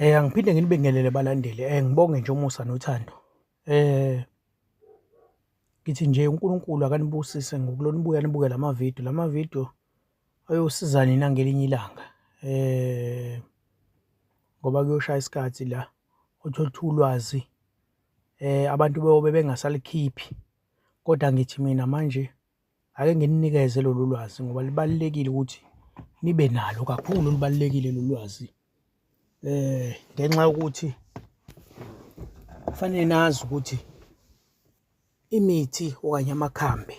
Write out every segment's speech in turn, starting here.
Eh angiphinde nginibingelele balandeli. Eh ngibonge nje umusa nothando. Eh ngithi nje uNkulunkulu akanibusise ngokulona ibuya nibuke lama video. Lama video ayosiza nina ngelinye ilanga. Eh ngoba kuyoshaya isikhathi la uthole ulwazi eh abantu beyobe bengasalikhiphi. Kodwa ngithi mina manje Ake ngininikeze lolu lwazi ngoba libalulekile ukuthi nibe nalo kakhulu libalulekile lolu lwazi eh ngenxa yokuthi kufanele nazi ukuthi imithi okanye amakhambi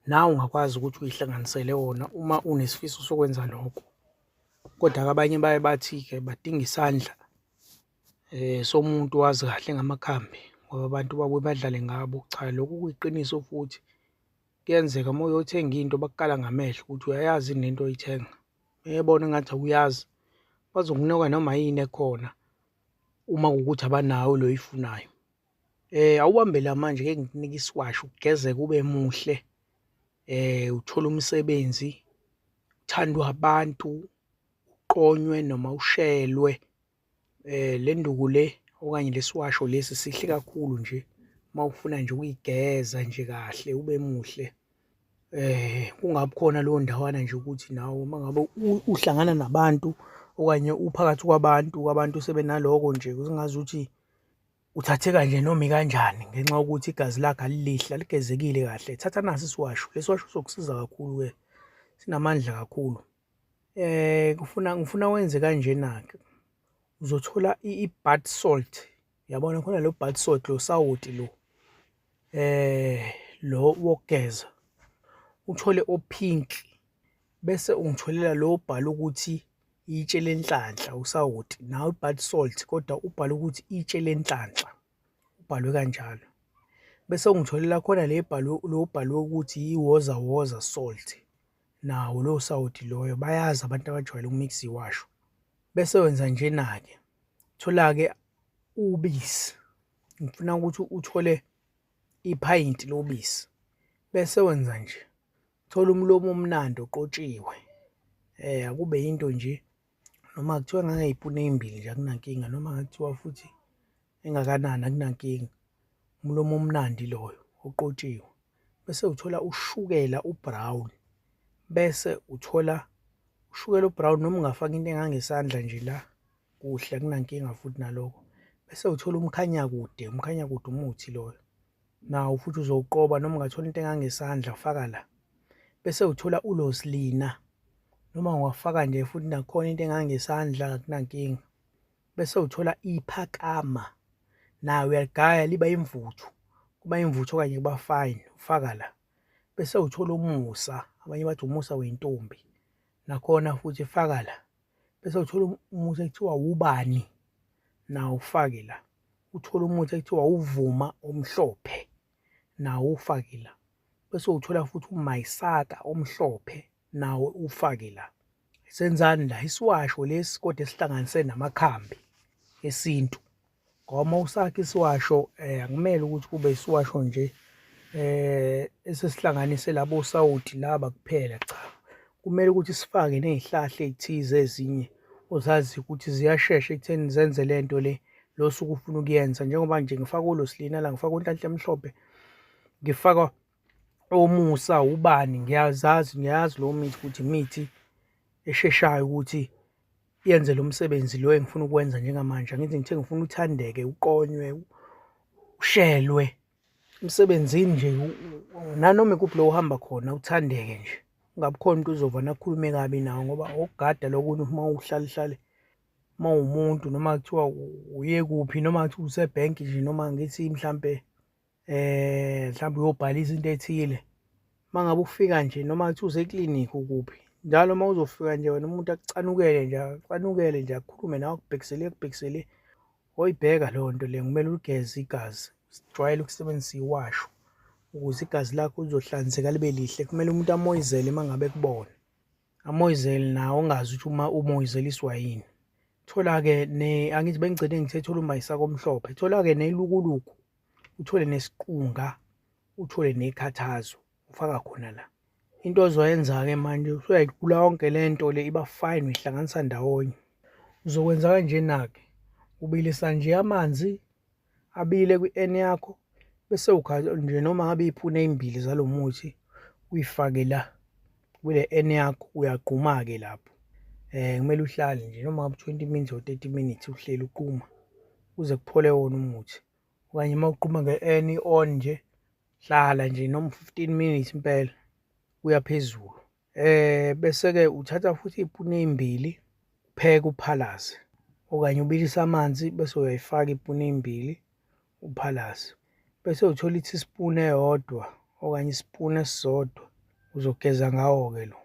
nawe ungakwazi ukuthi uyihlanganisele wona uma unesifiso sokwenza lokho kodwa abanye baye bathi-ke badinga isandla Eh somuntu wazi kahle ngamakhambi ngoba abantu babuye badlale ngabo. Cha lokhu kuyiqiniso futhi kuyenzeka uma uyothenga into bakukala ngamehlo ukuthi uyayazi yini lento oyithenga. Mebona engathi awuyazi bazokunika noma yini ekhona uma kuwukuthi abanayo le oyifunayo. Eh awubambe la manje ngeke ngikunike isiwasho ugezeke ube muhle. Eh uthole umsebenzi uthandwa abantu uqonywe noma ushelwe. Eh le nduku le okanye lesiwasho lesi sihle kakhulu nje mawufuna nje ukuyigeza nje kahle ube muhle. Eh kungabi khona leyo ndawana nje ukuthi nawe mangabe uhlangana nabantu okanye uphakathi kwabantu kwabantu sebenaloko nje kuzingazi ukuthi uthathe kanje noma ikanjani ngenxa yokuthi igazi lakhe alilihle aligezekile kahle thatha nasi isiwasho lesiwasho sokusiza kakhulu ke sinamandla kakhulu Eh kufuna ngifuna wenze kanjena ke. Uzothola i-bath salt. Yabona khona lo bath salt lo sawoti lo. Eh lo wokugeza. Uthole opink bese ungitholela lo bhala ukuthi itshe lenhlanhla usawoti nawe ubhale salt kodwa ubhale ukuthi itshe lenhlanhla ubhalwe kanjalo bese ungitholela khona le bhalwe lo bhalwe ukuthi iwoza woza salt Nawo lowo sawoti loyo bayazi abantu abajwayele ukumix iwasho. Bese wenza njena-ke. Thola-ke ubisi. Ngifuna ukuthi uthole iphayinti lobisi. Bese wenza nje. Thola umlomo omnandi oqotshiwe. Eh akube into nje noma kuthiwa ngangayipuna ezimbili nje akunankinga noma ngakuthiwa futhi engakanani akunankinga umlomo omnandi loyo oqotshiwe bese uthola ushukela ubrown bese uthola ushukela ubrown noma ungafaka into engangesandla nje la kuhle akunankinga futhi naloko bese uthola umkhanyakude umkhanyakude umuthi loyo Nawu futhi uzowuqoba noma ungathola into engangesandla ufaka la. Bese uthola ulosilina noma ungafaka nje futhi nakhona into engangesandla kunankinga. Bese uthola iphakama nayo uyaligaya liba imvuthu kuba imvuthu okanye kuba fine ufaka la. Bese uthola umusa abanye bathi umusa wentombi nakhona futhi faka la. bese uthola um-, umuthi ekuthiwa wubani nawo ufake la uthola umuthi ekuthiwa uvuma omhlophe nawo ufake la bese uthola futhi umayisaka omhlophe nawo ufake la senzani la isiwasho lesi kodwa esihlanganise namakhambi esintu Ngoba usakhe isiwasho eh akumele ukuthi kube isiwasho nje eh esesihlanganise labo sawuthi laba kuphela cha. Kumele ukuthi sifake nezihlahla ezithize ezinye ozazi ukuthi ziyashesha ekutheni zenze lento le losuku ufuna ukuyenza njengoba nje ngifaka ulosilina la ngifaka unhlanhla emhlophe ngifaka omusa ubani ngiyazazi ngiyazi lo mithi ukuthi imithi esheshayo ukuthi yenze lo msebenzi lo engifuna ukwenza njengamanje angithi ngithe ngifuna uthandeke uqonywe ushelwe emsebenzini nje nanoma ikuphi lo uhamba khona uthandeke nje ungabi khona umuntu uzova nakhulume kabi nawo ngoba okugada lokunye uma uhlale hlale uma umuntu noma kuthiwa uye kuphi noma kuthiwa usebhenki nje noma ngithi mhlampe eh mhlawumbe uyobhalisa into ethile mangabe ufika nje noma kuthi use clinic ukuphi njalo uma uzofika nje wena umuntu akucanukele nje acanukele nje akhulume nawe akubhekisele akubhekisele oyibheka leyo nto le kumele uligeze igazi sijwayele ukusebenzisa iwasho ukuze igazi lakho lizohlanzeka libe lihle kumele umuntu amoyizele uma ngabe kubona amoyizele nawo ungazi ukuthi uma umoyizeliswa yini thola-ke angithi bengigcine ngithe thola umayisaka omhlophe thola-ke nelukuluku uthole nesiqunga uthole nekhathazo ufaka khona la into ozoyenza-ke manje usuyayigula yonke le nto le iba fine uyihlanganisa ndawonye uzokwenza kanjena-ke ubilisa nje amanzi abile kwi-n yakho bese ukha nje noma ngabe iphune ezimbili zalo muthi uyifake la kule n yakho uyagquma-ke lapho um kumele uhlale nje noma ngabe twenty minutes or thirty minutes uhleli uquma kuze kuphole wona umuthi okanye uma uquma nge-n i-on nje hlala nje noma fifteen minutes impela kuya phezulu um bese-ke uthatha futhi iy'puni ey'mbili upheke uphalaze okanye ubilise amanzi bese uyayifaka iy'puni ey'mbili uphalaze bese uthola i-teaspoon eyodwa okanye isipuni esisodwa uzogeza ngawo-ke lo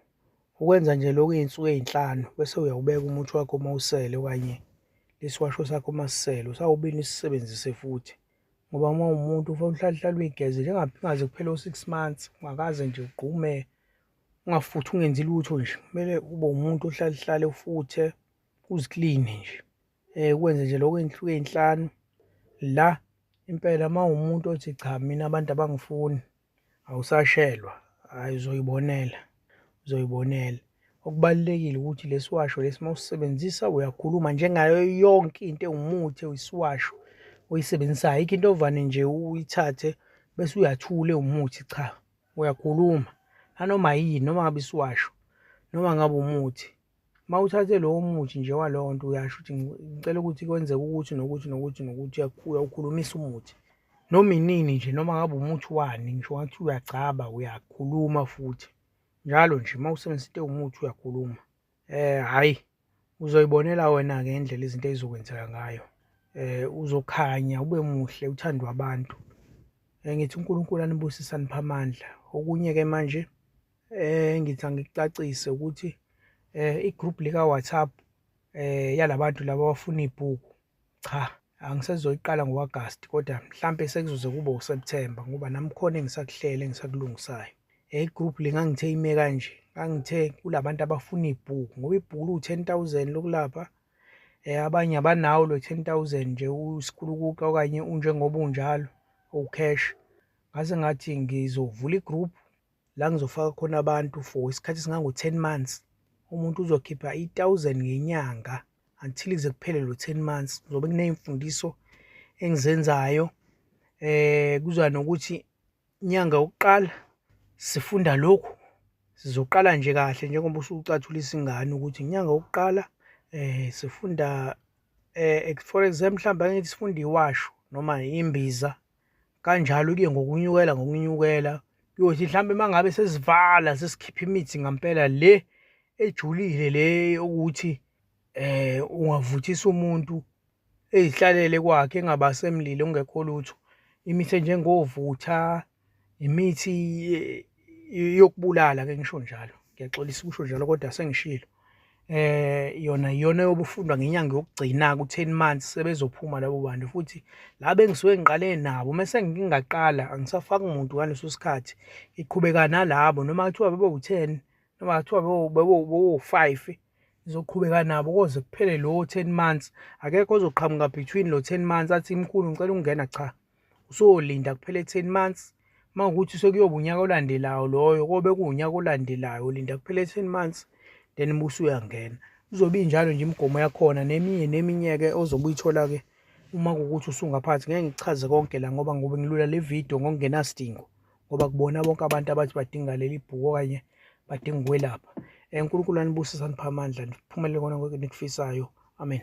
ukwenza nje lokhu iy'nsuku ey'nhlanu bese uyawubeka umuthi wakho uma usele okanye lesiwasho sakho uma sisele usawubini usisebenzise futhi ngoba uma umuntu ufanele uhlalehlale uyigeze njengaze kuphele u-six months ungakaze nje ugqume ungafuthi ungenzi lutho nje kumele ube umuntu ohlalehlale ufuthe uzikline nje eh kwenze nje lokho inhluke ezinhlanu la impela mawumuntu othi cha mina abantu abangifuni awusashelwa hayi uzoyibonela uzoyibonela okubalulekile ukuthi lesiwasho lesi mawusebenzisa uyakhuluma njengayo yonke into ewumuthi oyisiwasho oyisebenzisayo ikho into ovane nje uyithathe bese uyathule umuthi cha uyakhuluma nanoma yini noma ngabe isiwasho noma ngabe umuthi Uma uthathe lowo muthi nje walowo nto uyasho ukuthi ngicela ukuthi kwenzeke ukuthi nokuthi nokuthi nokuthi uyawukhulumisa umuthi noma inini nje noma ngabe umuthi wani ngisho ngathi uyagcaba uyakhuluma futhi njalo nje uma usebenzisa into ewumuthi uyakhuluma um hhayi uzoyibonela wena-ke indlela izinto ezizokwenzeka ngayo um uzokhanya ube muhle uthandwe abantu um ngithi unkulunkulu anibusise anipha amandla okunye-ke manje Eh ngitha ngikucacise ukuthi eh igroup lika WhatsApp eh yalabantu laba abafuna ibhuku cha angisezoyiqala ngoAugust kodwa mhlambe sekuzoze kube uSeptember ngoba nami khona engisakuhlele engisakulungisayo eh igroup lingangithe ime kanje ngangithe kulabantu abafuna ibhuku ngoba ibhuku lu 10000 lokulapha eh abanye abanawo lo 10000 nje usikulukuka okanye unjengoba unjalo ucash ngase ngathi ngizovula igroup la ngizofaka khona abantu for isikhathi esingango-ten months umuntu uzokhipha i-thousand ngenyanga until kuze kuphele lo ten months ngizobe kuney'mfundiso engizenzayo eh kuza nokuthi inyanga yokuqala sifunda lokhu sizoqala nje kahle njengoba usucathulisa ingane ukuthi inyanga yokuqala eh sifunda eh for example mhlawumbe angithi sifunda iwasho noma imbiza kanjalo-ke ngokunyukela ngokunyukela kuyothi mhlawumbe uma ngabe sesivala sesikhipha imithi ngampela le ejulile le ukuthi eh ungavuthisa umuntu ezihlalele kwakhe engabasemlilo ungekho lutho imithi enjengovutha imithi yokubulala ke ngisho njalo ngiyaxolisa ukusho njalo kodwa sengishilo eh yona iyona yobufundwa ngenyanga yokugcina ku10 months sebezophuma labo bantu futhi la bengisuke ngiqale nabo mase ngingaqala angisafaki umuntu ngaleso sikhathi iqhubeka nalabo noma kuthiwa bebe u10 noma kuthiwa bebe u5 ngizoqhubeka nabo koze kuphele lo 10 months akekho ozoqhamuka between lo 10 months athi imkhulu ngicela ukungena cha usuyolinda kuphele 10 months mawukuthi sekuyoba unyaka olandelayo loyo kobe kuwunyaka olandelayo ulinda kuphele 10 months then musu uyangena uzobe injalo nje imigomo yakhona neminye neminyeke ozobe uyithola ke uma kukuthi usungaphathi ngeke ngichaze konke la ngoba ngobe ngilula le video ngokungenasidingo ngoba kubona bonke abantu abathi badinga leli bhuku okanye badinga ukwelapha uNkulunkulu anibusise aniphe amandla niphumelele kona konke enikufisayo amen